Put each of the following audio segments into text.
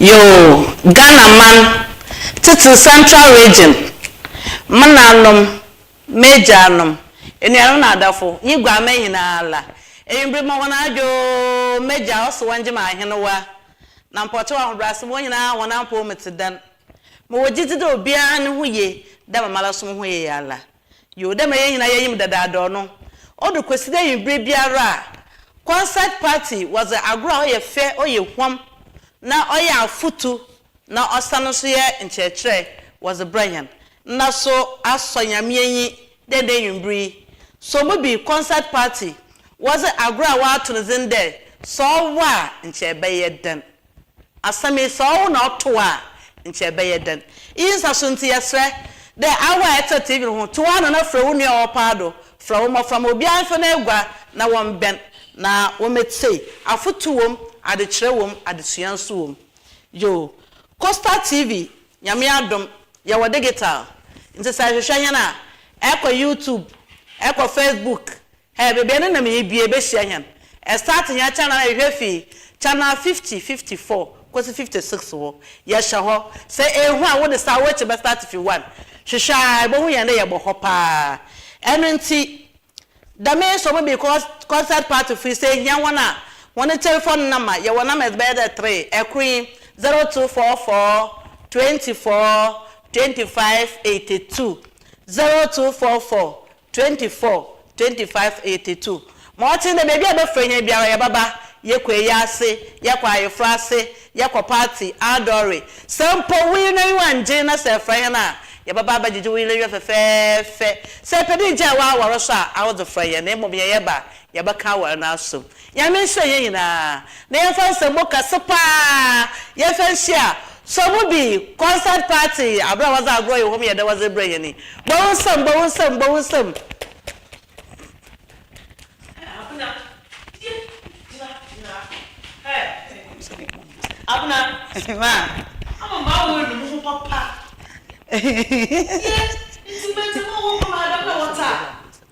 Yoo Ghana man titire central region mananom magyanom anuanom na adafo nye guaman nyinaa la ewimbir ma hɔn adwo magya ɔso wɔngye ma ahenewa na mpɔkyɛw ahobrɛase ma hɔn nyinaa hɔn apɔw mu tse dɛn mowɔ gyedzi dɛ obiara no ho ye dɛ ma mara so moho ye yi ara Yoo, dɛ mbrɛ hɛn nyina yɛnyim dadaadɔɔ no, odu Kwesida ewimbir biara a, concert party, wɔdze agor a ɔyɛ fɛ, ɔyɛ huam, na ɔyɛ afotu, na ɔsan so yɛ nkyerɛkyerɛ wɔdze brɛ hɛn. Nna so asɔ Nyame enyi dɛ ndɛ ewimbir yi, so mu bi concert party, wɔdze agor a wɔato no dzin dɛ Sɛ Ɔwɔ a, nkyɛ ebɛyɛ dɛn? Asɛm yi, sɛ ɔwo na ɔto wo a, nkyɛ ebɛyɛ dɛn? Iyi nsaso ntsi, yɛserɛ dɛ awo a etse TV no ho, to w'ano na frɛ wo nua a ɔwɔ paado, frɛ wo mbofra ma obiara mfa n'egua na wɔmbɛn na wometsie. Afotu wɔ mu, adzekyerɛ wɔ mu, adzesua so wɔ mu. Yoo, Coastal TV, Nyame adom, yɛwɔ digital, ntsi sɛ erehwehwɛ hɛn a, kɔ YouTube, kɔ Facebook, Hɛn beebi a nna mibue behyia hɛn. Start hɛn channel no ehwɛ fi channel fifty, fifty four, kosi fifty six hɔ. Yɛhyɛ hɔ. Sɛ ehu a, wo de saa w'ekyir bɛ start fi one. Hwehwɛ a, ebohu hɛn dɛ yɛbɔ hɔ paa. Ɛno ntsi, dɛm nsɔw mu bi, cos concert party fo yi, sɛ ihia hɔn a, hɔn telephone number, yɛwɔ numbers bɛyɛ dɛ three. Kor nye, zero two four four, twenty four, twenty five, eighty two, zero two four four, Twenty four, twenty five, eighty two, Ma ɔtee dɛ beebi a ebɛfrɛ hɛn biara yɛbɛba, yɛkɔ eyiase, yɛkɔ ayeforo ase, yɛkɔ party, adɔre, sɛ mpo wo yer n'enyiwa nngye na sɛ efrɛ hɛn a, yɛbɛba abɛgyegye wo yer n'enyiwa fɛfɛɛfɛ. Sɛ epɛ dɛ igyaa w'awar so a, aɔdze frɛ hɛn na mbom yɛyɛba a, yɛbɛka awar no asom. Nyame nhyira yɛn nyinaa na yɛmfa nsɛmmo kɛse paa yɛmfa nhyia Sɔ mu bi concert party aber a wɔdze agorɔ yɛ hom yɛ dɛ wɔdze rebrɛ hɛn yi. Bɔ wo nsam, bɔ wo nsam, bɔ wo nsam. Abena, gyina, gyina, gyina ha. Hey, Abena, ma, ama maa wo enu mo ho papa. Yɛ, nti mɛdze mo wɔ hɔ ma adɛm na wɔtaa.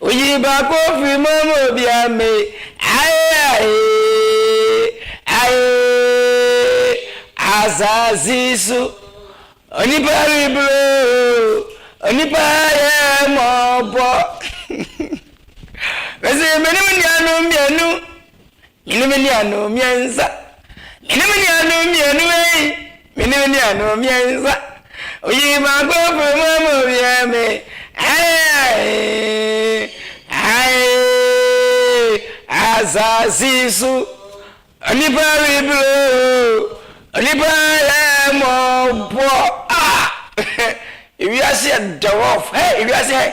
Oyi baako firi mu ama obiara mmee ae ae ae asase so onipa rebro onipa yɛ mɔbɔ mese mene wo nuanom mmienu Me ne me nuanom mmiɛnsa. Me ne me nuanom mmienu ei. Me ne me nuanom mmiɛnsa. Oyii baako firi mu ama owiee me. Ae, ae, asase so onipa rebiri o. Onipa yɛ mmɔbɔ ah. Ewiase yɛ dɔɔf hey ewiase hey.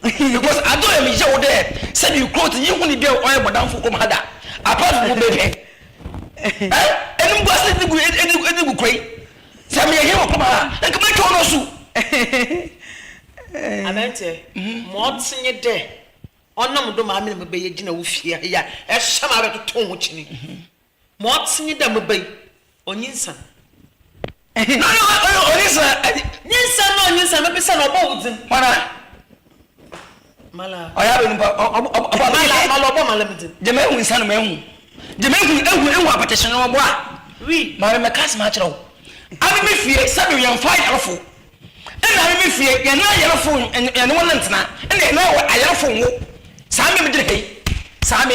because adze ɔyɛ me yaw dɛ sɛ me kura odzi nye hɔn biara ɔyɛ bɔdamfo wɔ mu ha da apart from ɔbɛ pɛ eh enumguase edze gu edze edze gu kura yi sɛ meyɛ hen wɔ pam ha a nka mɛtwa ɔno asu. Anantse ma ɔtse nye dɛ ɔnam do ma amena mebɛyɛ gyina wo fie ha yi a ɛhyɛ ma abɛtotow ho kyene. Ma ɔtse nye dɛ me ba yi, onyinsan. Hɛn a ɔyɛ onyinsan. Nyinsan na onyinsan, mebisa no, ɔbɔ wo dzin. Mala. Mala. Ɔyɛ abɛn mpo a, ɔbɔ ɔbɔ ɔbɔ. Mala, Mala, ɔbɔ Mala me dzin. Gyama ehu nsa no, mehu. Gyama ehu ehu ehu apɛtɛhyɛn no, ɔbɔ a. Wi. Maame, mɛka asɛm akyerɛ wo. Ame me fie, sɛbew yɛmfa ayarfo. Nna ame me fie, yɛne ayarfo yɛne hɔn ntsena, nna yɛne ayarfo nwo. Saa me megyina ha yi. Saa me.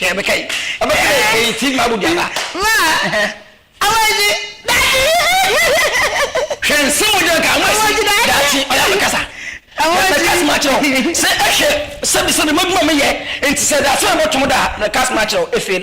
Kaya bɛ kai. Aba ti bɛ kai ti ma bu diaba. Ma. Awa ji dati. Hwɛ nse mo jɛ ka mo si dati ɔya bɛ kasa. Awa ji. Kasi ma kyerɛ o. Sɛ ɛhwɛ sɛbi sɛbi mo adwuma mi yɛ nti sɛ dati na bɛ tom da na kasi ma kyerɛ o efel.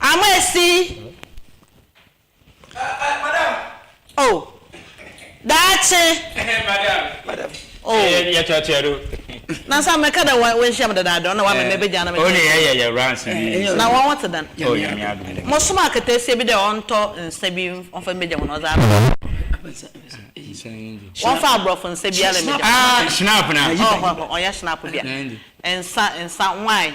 Ama esi oh daakye. Oh. Yɛ kyɛ kyɛ do. Na sa me ka da wa we nhyia me dada dɔn na wa me me be gya na me. Oh ne yɛ yɛ yɛ runs bi. Na wɔn wɔte dan. Oh yɛ mi adu. Mo soma aketesia bi dɛ ɔntɔ nsa bi ɔnfa me gya wɔn ɔdze aba. Wɔnfa aborɔfo nsa biara me gya. Ah shinap na. Oh ɔyɛ shinap bia. Nsa nsa wine.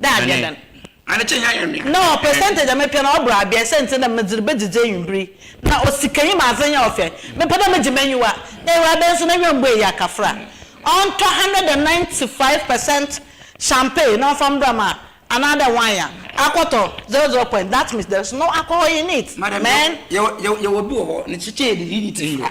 Daabia da. Na ɔ percentage a mepɛ no ɔboro abien sɛ ntsi na medze rebedzidzi ewimbir yi na ɔ sikanyi ma adze nnyɛ ɔfɛ mepɛ dɛ megye m'enyiwa na Ewuradze nso n'enyiwa mmbue iyi akafra ɔntɔ hundred and ninety five percent champagne na ɔmfa mbra ma anaadɛ wine a akɔtɔ zero zero point that means there is no alcohol in it amen. Madam yɛwɔ yɛwɔ yɛwɔ bi wɔ hɔ ne kyekyɛɛ de didi tiri yɛ.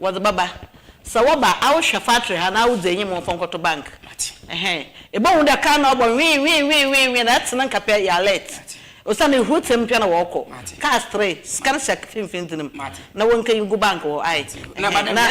Wɔdze bɛba. Sɛ wɔba a, awohwɛ factory ha na awodzi enyim mfa nkɔto bank. Ɛhɛn. Ebohu dɛ kar no ɔbɔ wee wee wee wee wee na ɛtse no nka pɛ, yɛ alert. Osiandɛ ehur tsee mmpia na wɔrokɔ. Cars three, sika no hyɛ finimfin dze no mu na wonkeyi ngu bank hɔ. Ae. Ɛhɛn. Na.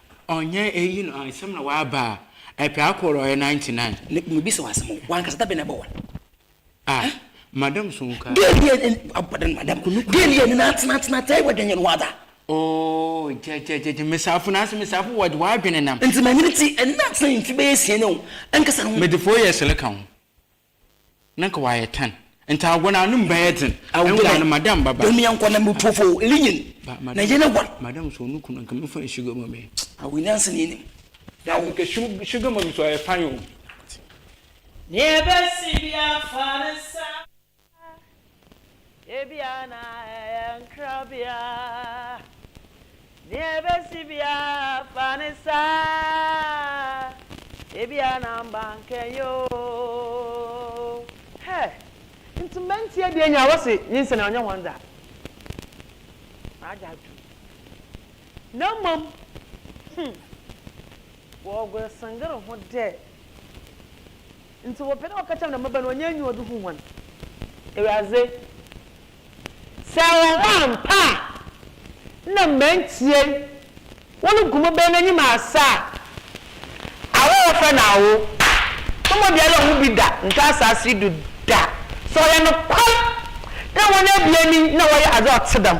Ɔnyɛ eyi no ansɛm na w'aba a, ɛpɛ akɔ rɔ yɛ ninety nine. Me me bisa wo asɛm o, w'ankasa da bɛn na ɛbɔ one? Ah Eh? Madam so nka. Girl yi yɛ ɛn abɔ dɛn madam? Girl yi yɛ nina atena atena atena ɛwɔ dɛn yɛ no wɔ ada? Oh gyɛgyɛgyɛgyɛ mesafo na ase mesafo wɔ de w'adwene nam. Nti manyini ti ɛnina atena mfe bɛyɛ asia ni o, ankasa no ho. Mede four years reka ho. Na nka wayɛ tan. Nti agor no ano mu bɛyɛ dzen. Nna no madam baba. Dɛm yɛ nkwa na mo tuofo o, linyin na yɛn agua. Madam so no kun nka memfa no sugar mummy. Awo nyansa na enim. Dabi nka sugar mummy so ɔyɛ fine o. Nea ɛbɛsi biara fa ne nsa. Ebia na ɛyɛ nkrabea. Nea ebesi biara fa ne saa. Ebia na mbankenyɛ oo. Hey! Nti mɛnti adie nyaa wɔse nyinsɛn a ɔnyɛ wɔn dza maagye atom na mmom hmm wɔɔgor sengr ho dɛ. Ntsi wɔpɛ dɛ wɔka kyerɛ hɔn dɛ, Mbabaa no, wɔnnyɛ enyiwa do hu hɔn. Ewuradze, sɛ wɔwɔ ampa a, nna mma ntsie wo no gu mo bɛn n'enyim asa a, awo a wɔfrɛ no awo no mu obiara nnhu bi da nnto asaase yi do da. Sɛ ɔyɛ nokwar dɛ hɔn ebien yi na wɔyɛ adze a ɔtse dɛm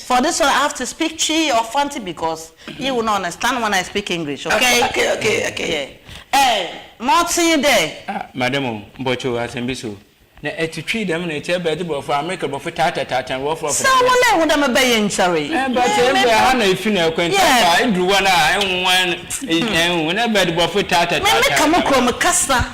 For this one I have to speak Twi or Fanti because you will not understand when I speak English, ok? Okay, okay, okay, okay. Yeah. Eh, motse nye dɛ. Ah, madam o, mpɔkyɛw, asɛm bi so. Na ɛte Twi dɛm na ɛte bɛdze Borɔfo, America Borɔfo taata taata no wɔfrɛ ɔfrɛ. Sɛ wona ehu dɛ mebɛ yɛ nkyɛree. Eh, but eh, mbrɛ ɛha na efi na ɛkɔ nti aba, eduru hɔ no a, ehu wan, eh, ehu, na bɛdze Borɔfo taata taata. Me, me ka mo kurom kasa.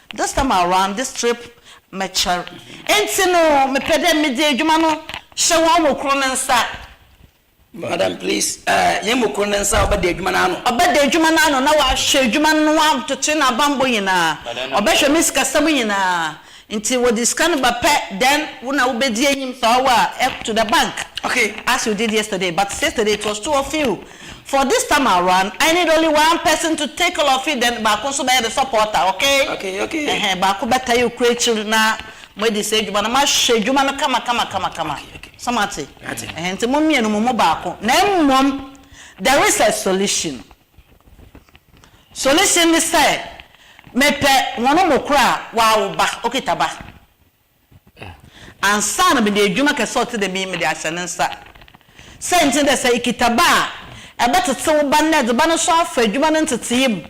This time around this trip mɛkyɛr ntsi no mepɛ dɛ medze edwuma no hyɛ hɔn mu kor ne nsa. Madam please eh, hɛn mu kor ne nsa ɔbɛda edwuma no ano. Ɔbɛda edwuma no ano na ɔahwɛ edwuma no ho abtotoe na abambɔ nyina, ɔbɛhwɛ me sikasɛm nyina ntsi wɔdze sika no ba pɛ then wo na wobedzi enyim dza ɔwɔ a to the bank okay as you did yesterday but yesterday it was too of you. For this time around I need only one person to take all of it then baako nso bɛyɛ the supporter okay? Okay okay. Ɛhɛn baako bɛtaa yɛ okura akyiri na mo adi saa adwuma no mo ahwɛ adwuma no kama kama kama kama Okay okay. So mo ate? Mate. Ɛhɛn nti mo mmienu mo mu baako na mmom there is a solution solution ne sɛ mepɛ wɔn mu koro a wawo ba okita ba. Ansa no mede edwuma kɛse a ɔtse dɛm yi mede ahyɛ ne nsa. Siantsir nye dɛ sɛ ikitsa ba a, ebɛtsetse wo ba no na edze ba no so afa edwuma no ntsetsee mu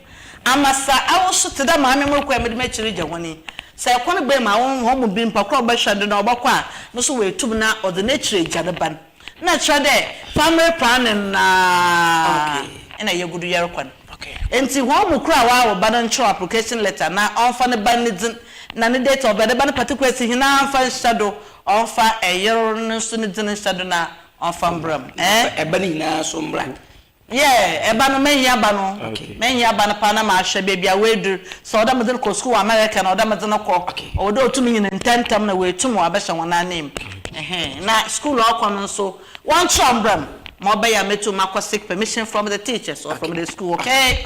ama sɛ awo so, tse dɛ maame morokɔ a mede m'ekyir regya hɔn yi. Sɛ kwan bue ma hɔn mu bi mpa kor a ɔbɛhwɛ do na ɔbɔkɔ a, no so oetum na ɔdze n'ekyir egya ne ba no. Nna kyerɛ dɛ famre paa no nna nna yegu do yɛrokɔ no. Ntsi hɔn mu kor a ɔawo ba no nkyerɛw application letter na ɔmfa ne ba no ne dzin na ne date of birth, ne ba no particulars nyina mfa nhyɛ do, ɔmfa yer no so ne dzin nhyɛ do na ɔmfa mbra mu. Na ɔmfa ba no nyina so mbra. Yeah ɛba no mɛyi aba no mɛyi aba no paa na mahwɛ baabi a wadur sɛ ɔdɛ medze no kɔ skuul wɔ America na ɔdɛ medze no kɔ ɔwɔ dɛ otum nyin ntsɛntsɛm na oetum ɔabɛhyɛ hɔn ananmu ɛhɛn na skuul a ɔkɔ no nso wɔnkyerɛw mbra mu ma ɔbɛyɛ a metum makɔ seek permission from the teachers or from the skuul okay.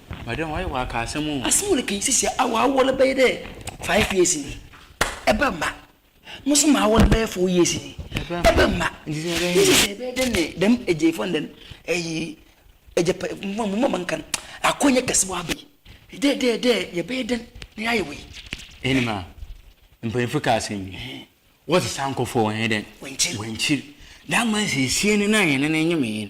Madam wayɛ waka asɛm o. Asem wo reka yi sisi a wawɔre bɛyɛ dɛ five years ni ɛbɛ mma mo nso mo awɔre bɛyɛ four years ni ɛbɛ mma nti sɛ ɛbɛyɛ sisi sɛ ɛbɛyɛ dɛ ne dɛm agyefo ne dɛm ɛyi ɛgya pɛ mo mo ma nka no akɔ nyɛ kɛse wɔ abɛ yi dɛ dɛ dɛ yɛbɛyɛ dɛ ne ayɛ wɔ yi. Ɛni ma mpanyinfo ka asɛm bi wɔsi sankɔfo wɔn yɛ dɛ wɔn kyiri wɔn kyiri dama sɛ esie ne nan yɛn ne ne nyɛ me yɛn.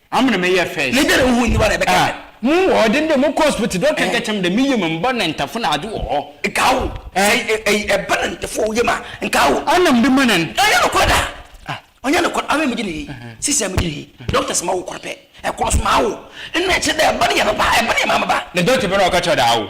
Amene me yɛ first. Ne dere wo ho nni hɔ na ɛbɛka ah, dɛn? Mo wɔ hɔ den dɛ mo kɔ hospital dɔkta eh. nkyɛkyɛm dɛ me yam mbɔ na ntafo na ade wɔ hɔ. Nkaa wo. Eh. Sɛ ɛyi eh, eh, ɛba na ntafo wɔ wo yam a, nkaa wo. Ana mede ma na. Ɛnyɛ nokorɛ da. Ah. Ɔnyɛ nokorɛ. Amene megye ne yi. Uh-huh. Sisi a megye ne yi. Uh-huh. Dɔkta sɛ ma wo korɔ pɛ. Ɛkorɔ so ma awo. Ɛna ɛkyerɛ dɛ ɛba ne yɛ me ba, ɛba ne yɛ maame ba. Na dɔkta bɛ na ɔka kyerɛ dɛ awo.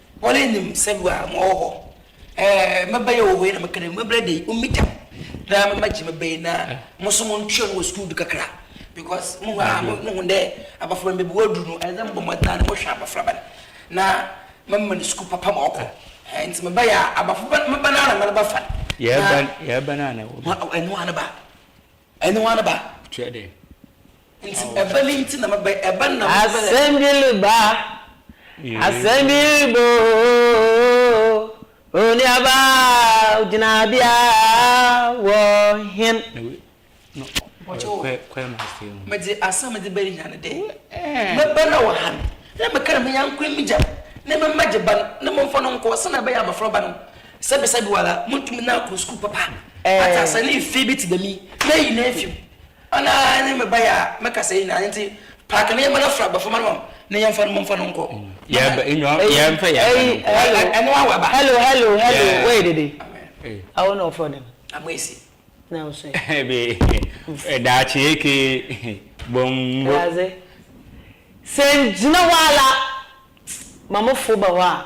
Wɔn nim sɛ bi a mowɔ hɔ. Ɛɛ, mɛba yɛ wɔ hɔ yi na mɛka dɛ, me berɛ de, mommi tam na mɛmɛgye me ba yi na mo nso montwɛn no wɔ sukuu du kakra because mohu a, mohu dɛ abɔfraba no baabi waduru no, ɛsɛ sɛ mobɔ mmɔden ara na mohwɛ abɔfraba no na mɛma no sukuu papa ma ɔkɔ. Ɛɛ, nti meba yɛ a, abɔfraba no, me ba no ara na mɛreba fa no. Yɛreba, yɛreba no ara na wɔba. Ɛno ara ne ba. Ɛne hwan ba? Kyerɛ dɛ, Nti ɛba ni nti na mɛba yi, ɛba na mɛba yi. Asɛmbili ba, asɛmbili ba oo, onuaba gyinabea wɔ hen? Medze asɛm medze ba yi hia no dɛ, mɛba na wɔ ha me, na meka dɛ me nyanko yi me gya, na me mma gye ba no, na momfa no nkɔ, sɛnea ɛbɛyɛ a mɛfrɛ ɔba no, Sɛbisɛbi woara munntum na akɔ skuul papa atse ase ne mfe bi tse dɛm yi, meyi no efi mu. Ɔno ara nye me ba yi a meka sɛ yi na ntsi paake no yɛmba no afora abɔfraba no na yɛmfa no momfa no nkɔ. Yɛmba enyo yɛmfa yɛmba no nkɔ. Hello Ɛno ara waba. Hello hello hello woyɛ dede a wo na ɔfrɔ dɛm. Amoesi. Na wo so ɛ. Ɛbee daakye eke bongo. Ɛwuradze sɛ ngyina hɔ ara ma mo fo ba hɔ a.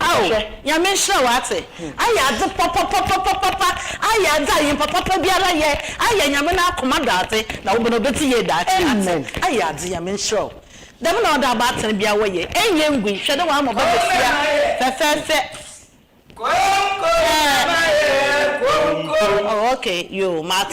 Ao, Nyame nhyira wo atse. Ayɛ adze papapapapapa, ayɛ adze a nympapapa biara yɛ, ayɛ Nyame n'akoma do adze, na wo bn obedzi yie daakye atse. Ayɛ adze, Nyame nhyira wo. Dɛm na ɔda abaatan biara wɔ yɛ. Nnyɛ ngui, hwɛ dɛ wɔama bɔdzesia fɛfɛɛfɛ. Koom koom na mayɛ koom koom. Oh okay yoo mate.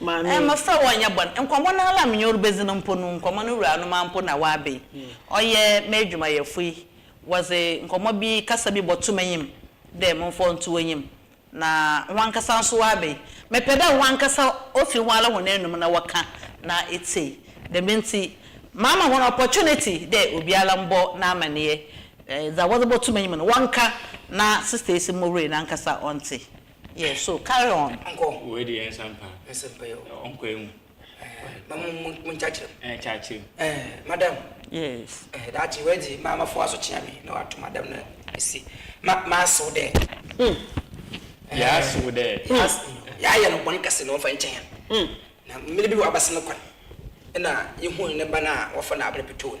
Maame. Mmofra wɔnnyɛ bɔn. Nkɔmbɔ no ara la menye wo ribedzi no mpo no, nkɔmbɔ no wuranom ara mpo na wɔaba yi. Ɔyɛ m'edwumayɛfo yi, wɔdze nkɔmbɔ bi, kasa bi bɔto m'enyim dɛ momfa ɔnto w'enyim, na woankasa so wɔaba yi. Mepɛ dɛ woankasa ofi woara hɔn anomu na wɔkã na etsie. Dɛm ntsi, maama hɔn opportunity dɛ obiara mbɔ n'amaneyɛ, dza wɔdze bɔto m'enyim no wɔnkã na Sister Esi Mowurie nankasa ɔntse. Yeah so carry on nkɔ. Wei deɛ nsa mpa. Nsa mpa yɛ o. Ɔnkɔ yɛ mu. Ɛɛ ma mo mo mo nkyakyerɛ mu. Ɛɛ kyakyerɛ mu. Ɛɛ madam. Yes. Ɛɛ daakye wei deɛ maa ma fo aso kyea me na wato madam no asi ma ma asew dɛ. Hmm. Yɛ asew dɛ. Yɛ ayɛ no bɔn kɛse na wɔfa nkyɛn yɛn. Hmm. Na mmiri bi wɔ abasa no kwan ɛna yɛ hu ne ba no a wɔfa no abere petoo no.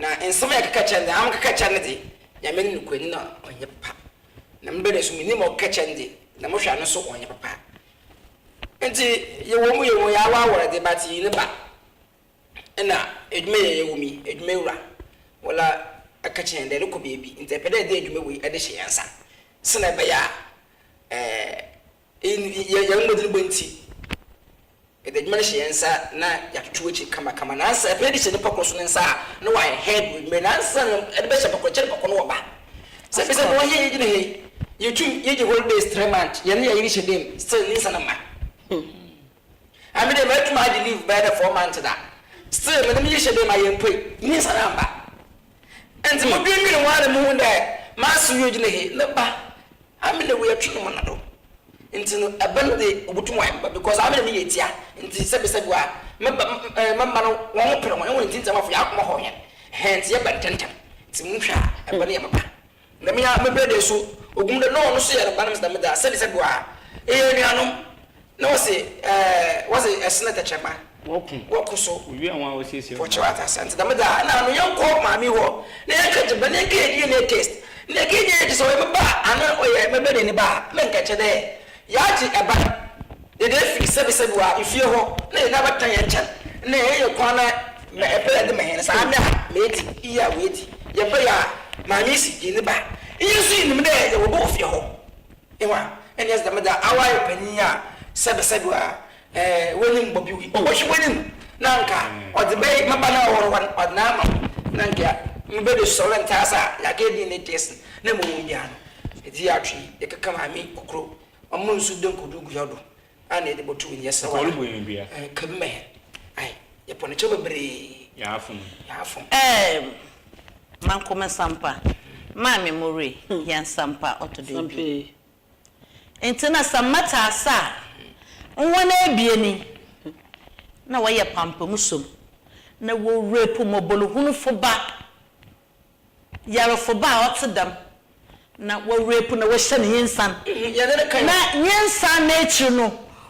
Na nsɛm a yɛkeka kyerɛ no dze, hɛn keka kyerɛ no dze, Nyame no nokwani na ɔnnyɛ papa, na me bɛda so minyim ma ɔkeka kyerɛ no dze, na mohwɛ ano so ɔnnyɛ papa. Ntsi, yɛwɔ mu, yɛwɔ yɛawɔawɔr dze, but iyi ne ba na edwuma yi a yɛwɔ mu yi, edwumawura Wola aka kyerɛ hɛn dɛ erokɔ beebi, ntsi epɛ dɛ edze edwuma wei dze hyɛ hɛn nsa, sɛ na ebɛyɛ a, eh, Yen yɛn mmɔdenbɔ nti, yɛde adwuma no hyɛ yɛn nsa na yɛatoto akyiri kamakama. Nansa ɛpɛ de hyɛ nipa koro so ne nsa a, na wayɛ head with me. Nansa na ɛde bɛhyɛ pɔkɔ kyɛ ne pɔkɔ no ɔba. Sɛ bisa bɔ wɔyɛ yɛgyina he, yɛtum yɛgye holidays three months, yɛne yɛyere hyɛ dam, still ne nsa na mma. Emi de metum agye leave bɛyɛ dɛ four months da. Still me ne me nhyehyɛ dei ma yɛmmpue. Nyinsɛn ammba. Ntsi modwendween ho a na muhun dɛ m'aso yi ogyina he ne ba Ame na wei atwe no mo na do. Ntsi no ba no dze obotum ɔayɛ me ba because Ame na meyɛ tsia ntsi sɛbisɛbi a me ba eh me mba no wɔnho per hɔn. Hɔn ntsi ndzɛmafo yɛakoma hɔ hɛn. Hɛn ntsi yɛba ntsɛntsɛm. Ntsi monhwɛ a ba no yɛ me ba. Nyame a mepɛ dɛ so ohun dɛ nna ɔno so yɛ no ba no medze dɛm dze asɛnde sɛ do a eyɛ enuanom na wɔse ɛɛ wɔdze ɛsene tɛkyerɛma wɔko wɔko so owie hɔn a wɔsiesie hɔn wɔkyerɛ ata asɛnte dɛm dze a nna ano yɛnkɔ maame hɔ na yɛnkɛ gye ba na yɛnkɛ yɛ DNA test na yɛkɛ nyɛ yɛ gye sɛ ɔyɛ me ba a ana ɔyɛ mɛbɛnee ne ba a menkɛkyɛ dɛ Yɛagye ɛban dede afiri sɛbisɛbi a efie hɔ na yɛn abɛtena yɛn nkyɛn na ɛyɛ yɛn kwan na ma ɛpɛ yɛn de ma yɛn saa nɛ a mɛdi iyi a wɛdi yɛn pɛ yɛ a Maame yi si yɛn ni ba iyi nso yi nim dɛ yɛwɔ bɔ wɔ fie hɔ. Ehu a ɛne yɛdze dɛm da awaayɛ panyin a sɛbisɛbi a Ɛɛ w'anim bɔ bi o wohwe w'anim na anka ɔdze bɛy me ba no a ɔwɔ hɔ no ɔdze no ama me na nka mebɛda su ɔwɛ ntaa sa yɛakɛyɛ dee ne dee sen na mowɔ mu biara no edze yɛ atwe ekeka maame okuro ɔmo nsu de nkodu gu yɛ do a na yɛde bɔto w'ani yɛsrɛ wɔ ha ɛɛ kabi mɛ hɛn ae yɛpɔ ne kyɛw bebree yɛafom yɛafom. Ɛɛm Manko Mensampa Maame Moree Yɛn Nsampa Ɔtɔdɔ Edu. Ntsi na sɛ mɛtse ase a, hɔn ebien yi na wɔyɛ pampam som, na wo rape mbɔbɔrhunfo ba, yarfo ba a ɔtse dɛm, na wo rape na wɔhyɛ no nyensan, na nyensan n'ekyir no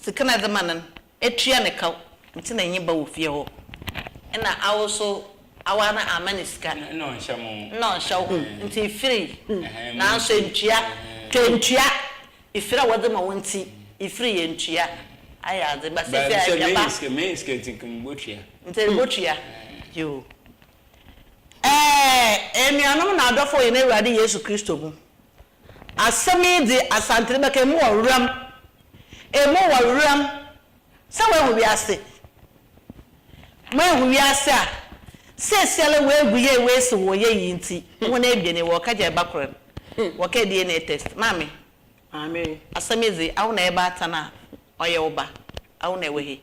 Sika na edze ma no no, etua no kaw, ntsi na enye ba wo fie hɔ. Nna awo so, awaa no amma no sika. Nna ɔnnhyɛ mo ho. Nna ɔnnhyɛ wo ho, ntsi ifirii, naaso enntua. Tɔ enntua, ifir a wɔdze ma wo ntsi, ifirii, enntua. Ayɛ adze, ba sesei a etwa ba. Sɛ menya sika ntsi nka mubotua. Ntsi erobotua, yoo. Ɛɛ, enuanom na adɔfo wɔ hɛn Ewuradze Yesu Kristo mu, Asɛm yi dze Asante no bɛka emu wɔ weram, emu wɔ weram, sɛ woehu wiase, moehu wiase a siesiara woegu yie woesi hɔ yie yi ntsi, hɔn ebien yi wɔka gya ba kor no, wɔkɛɛ DNA test, maame, asɛm yi dze awo na yɛbaatan a Ɔyɛ wo ba a wo na ɛwɔ he?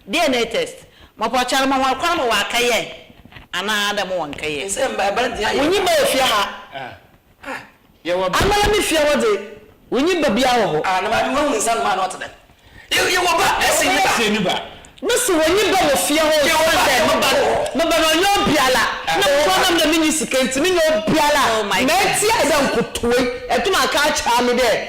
DNA test ma pɔ kyɛre ma hɔn kwan ma wɔakɛyɛ anaa dɛ mo wɔnnkɛyɛ. Nsɛm ba ba dze ayɛ. Wonnyi ba wɔ fie ha. Amala me fie hɔ dze wonnyi ba biara wɔ hɔ. Ah na maame woehu nsa no maa na ɔtse dɛm. Yɛwɔ ba ɛsen ne ba. ne ba. Me se wonnyi ba wɔ fie hɔ osiandɛ me ba no me ba no ɔnnyɛ obiara na mo kɔn nam dɛ minnyi sika ntsi mennyɛ obiara a mɛtse ayɛ dɛ nkotowee ɛtum aka akyɛɛ me dɛ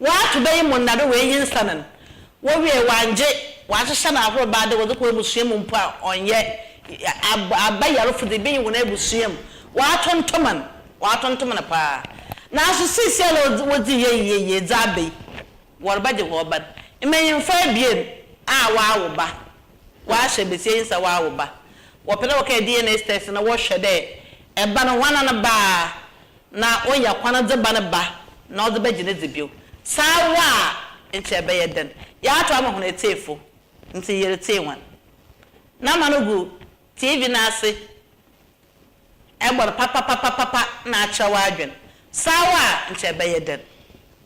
Wɔato bɛ yi mu nna do woenyi nsa no no, wowiee wɔanngye, wɔahyehyɛ no ahorow baa dɛ wɔdze kɔ ebusua mu mpo a ɔnnyɛ ab aba yarfo dze ibeyi hɔn ebusua mu, wɔatontoman, wɔatontoman paa. Naaso seseiara a odzi wodzii yɛ yie yie dze aba yi, wɔrebɛgye hɔn ba no. Mbanyimfo ebien a wɔawo ba, wɔahyɛ basia yi nsa wɔawo ba, wɔpɛ dɛ wɔkɛyɛ DNA test na wɔhwɛ dɛ ba no hɔn ana no ba a, na onya kwan dze ba ne ba na ɔdze bɛgye ne dze bio. Sɛ awa a, nkyɛ ebɛyɛ dɛn? Yɛato ama hɔn etsiefo, ntsi yeretsee hɔn. Na ma no gu TV no ase bɔ no papapapapapa na akyerɛ w'adwen. Sɛ awa a, nkyɛ ebɛyɛ dɛn?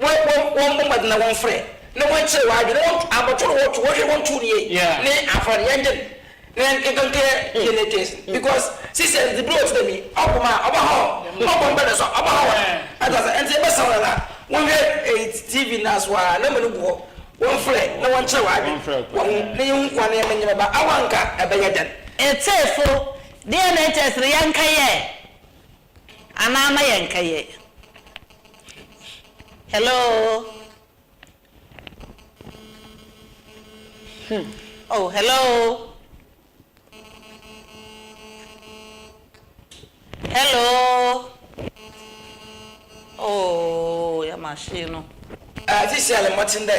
Wɔn wɔn wɔn bɔ mmɔden na wɔn frɛ na wɔn kyerɛ wɔn adwene wɔn abɔto na wɔn to wɔn hwɛ wɔn to nie Yeah. ne afra no yɛn gyen na yɛn nka nka yɛ yɛ ne case no because sisi ɛn de bere ɔte dɛ mi ɔko ma ɔba hɔ ɔbɔ mpɛ na so ɔba hɔ wɔn Yeah. ata ase ɛn te yɛ bɛ sa wɔn nana wɔn hwɛ ɛyi TV na so a na mo no gu hɔ wɔn frɛ na wɔn kyerɛ wɔn adwene Wɔn frɛ wɔn ho na yɛn hu kwan na yɛn mɛ nyɛ mɛ ba awa nka ɛbɛ yɛ dɛn. Etsefo, deɛ na ɛkyɛɛ sɛ yɛnka yɛ? Anaa na yɛ nka yɛ. Hello hmm oh hello hello oh yɛ machine no. Atisɛle mmɔten dɛ.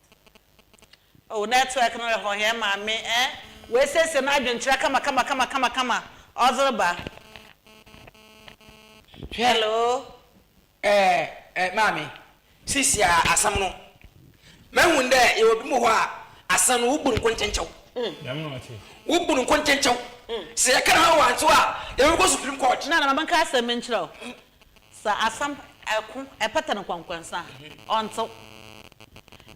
Oh network no rehɔ hɛn maame eh. Oesiesie n'adwenkyerɛ kama kama kama kama kama ɔdze reba. Hwɛ Hello. eh eh maame, sisia asɛm no mehu dɛ yɛwɔ binom wɔ hɔ a asɛm no wobu no nkonkyenkyew. Wobu no nkonkyenkyew. Sɛ yɛka hɔn wantsew a yɛbɔkɔ supreme court. Nana ma menka asɛm bi nkyerɛ wo. Sɛ asɛm ko pata no kɔnkɔnsa a, ɔntsew.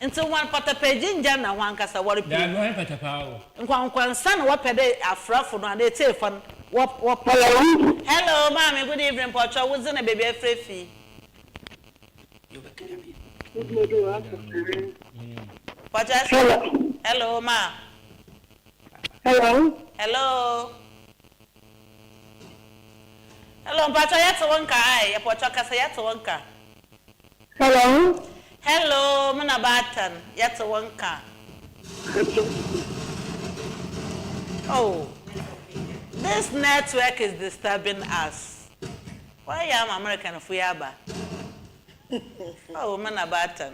Ntsi hɔn patapaegye nngya nna hɔ ankasa, wɔrepira mu. Nkɔnkɔnsa na wɔpɛ dɛ afrafo no anaa etsiefo no wɔpɛ. Hello, maame, good evening, mpɔkyɛw wo dze na beebi a efrɛ fi? Mpɔkyɛw ese Hello, ma. Hello. Hello. Hello mpatsɔ yɛtse wo nka ae yɛ pɔtɔ kasa yɛtse wo nka. Hello. Hello me na baatan yɛtse wo nka. Oh this network is disturbing us wayɛ ama American fo yi aba oh me na baatan.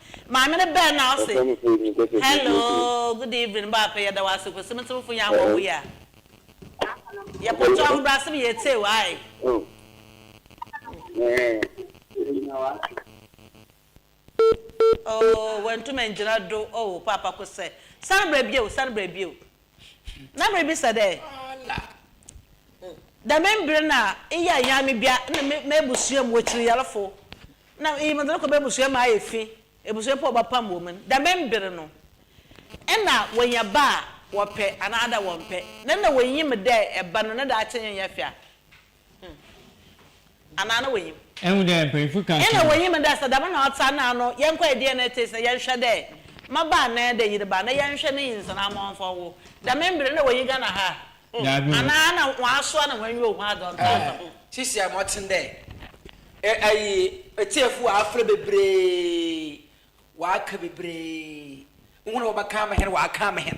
Maame no bɛn na ɔse hello good evening baako yɛda wo ase kwesi metemfo yan wɔ wo ya yɛ pɔtɔ ahobrasem yɛ teo ae oh wantum angyina do oh paapa ko sɛ sane bra bio sane bra bio na miribisa dɛ, Dɛm mber no a eyɛ ayamibea na m'ebusua mu ekyiryarfo, na iyi medze no kɔ m'ebusua mu ayɛ fi, ebusua mpo a wɔbɛpam wɔ mu no, dɛm mber no, nna wonya ba a wɔpɛ anaadɛ wɔmmpɛ, na nna wonyim dɛ ba no ne daakye nnyɛ fɛw a? Hmm. Anaa na wonyim? Ehu dɛ mpanyimfo ka akyerɛ. Nna wonyim dɛ sɛ dɛm na ɔtse a nna ano yɛnkɔyɛ DNA test na yɛnhwɛ dɛ mmabaa anaa dɛ yerba na yɛnhwɛ ne nyinsɛn ama ɔmfa ɔwo. Dɛm mber no nna wonnyi Ghana ha a. Hmm. Anaa nna wɔasoa na hɔnenyi ohu adze ɔnntse asa ho. Sisi a mɔtsen dɛ ayi etsiefo afora beberee Wɔaka bebree. Wohu na wɔbɛkan me hɛn, wɔakan me hɛn.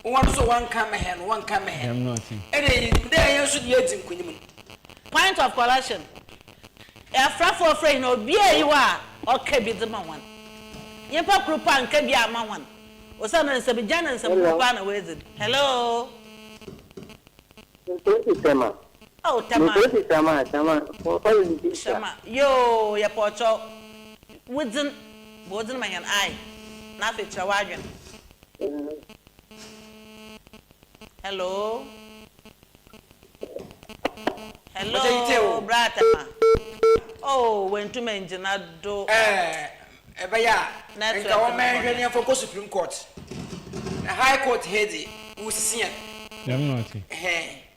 Wohu no so, wɔnkan me hɛn, wɔnkan me hɛn. Nna yenyim dɛ hɛn so na yedzi nkonyim no. Point of correction, Afrafo ɔfrɛ hɛn obi a eyi hɔ a ɔka bi dze ma hɔn. Nyimpa kor mpo annka bi amma hɔn, osiandɛ nsɛmgya na nsɛmhorow paa na oedzi no. Hello. Nsɛm pii sɛ ma. Oh Tama. Mepɛ bi Tama Tama wɔmfa yɛ ne visa. Tama yoo yɛpɛ ɔkyɛw. Wo dzen bɔ wo dzen ma hɛn ae na afei kyerɛ w'adwen. Hello Hello bra Tama oh oenntum enngyina do eh. Ɛbɛyɛ a nka wɔma yɛnhwɛ ne yɛmfa nkɔ Supreme Court. High Court he dze, wosia. Dɛm na ɔtse. Hɛn.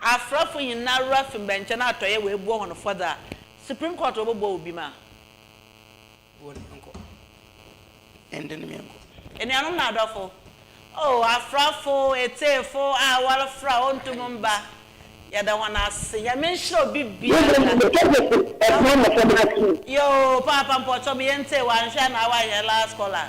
Aserafo nyinara fi mbɛnkyɛn atɔyɛ woebua hɔn fɔdze a, Supreme Court wɔbɔbua obi ma. Wo na nkɔ. Ɛnde ne me nkɔ. Enuanom na adɔfo, O aserafo etsiefo a wɔrefrɛ a wonnto mu mmba, yɛda hɔn ase. Nyame nhyira obibiara. Mbom mebɛka dɛ so ɔsera mboframba ato mu. Yoo, paapa mpɔkyɛw meyɛ ntsee, wɔannhwɛ anaa wɔannyɛ last call a.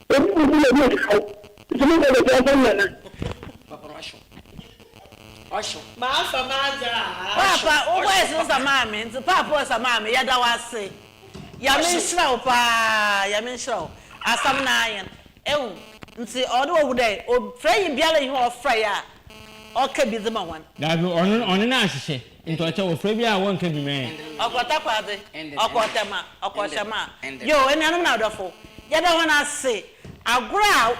Obi a ɔbɔ n'ani aka wo, nti mo bɔ bɛtɔ ɔsɔ no nana. Papa ɔsɔ, ɔsɔ. M'afa m'adze a, ɔsɔ, ɔsɔ. Paapa wo voice no sa maa me nti paapa ɔsa maa me yɛda wo ase yame nhyira wo paa yame nhyira wo asam no ayen ehu nti ɔde wɔ hu dɛ frɛ yi biara yi hɔ ɔfrɛ yɛ a ɔka bi dze ma hɔn. Dabi ɔno ɔno na ahyehyɛ. Ntɔɔkyɛ wɔ frɛ bi a wɔnka bi mɛ. Ɔkɔ Takoradi, ɔkɔ Tema, ɔkɔ Hyɛma. Yoo, enuanom na adɔfo, yɛda hɔn ase. Agor a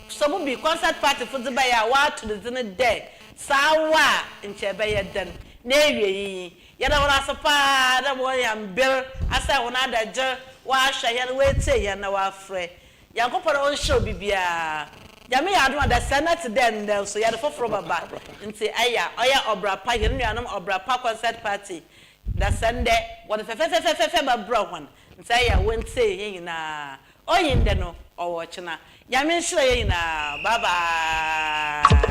Sobubi Concert Party fo dze bae a wɔato ne dzin dɛ Saawa a Nkyɛ Ebɛyɛ Dɛn n'ewiei yi, yɛda hɔn ase paa dɛ wɔanya mber asɛɛ hɔn adagyer, wɔahwɛ hɛn, woetsie hɛn na wɔafrɛ Nyankopɔn ɔnnhyɛ obi biara. Nyame yɛ adom adasɛ na tse dɛ ndɛ so yɛde fofor bɛba ntsi ɛya ɔyɛ ɔbra pa hɛn nuanom ɔbra pa concert party dasɛ ndɛ wɔde fɛfɛfɛfɛfɛfɛ bɛbra hɔn ntsi ɛya wontsiei hɛn nyinaa onnyi ndɛ no ɔwɔ ɔkyena Nyame nhyira yɛn nyinaa bye bye.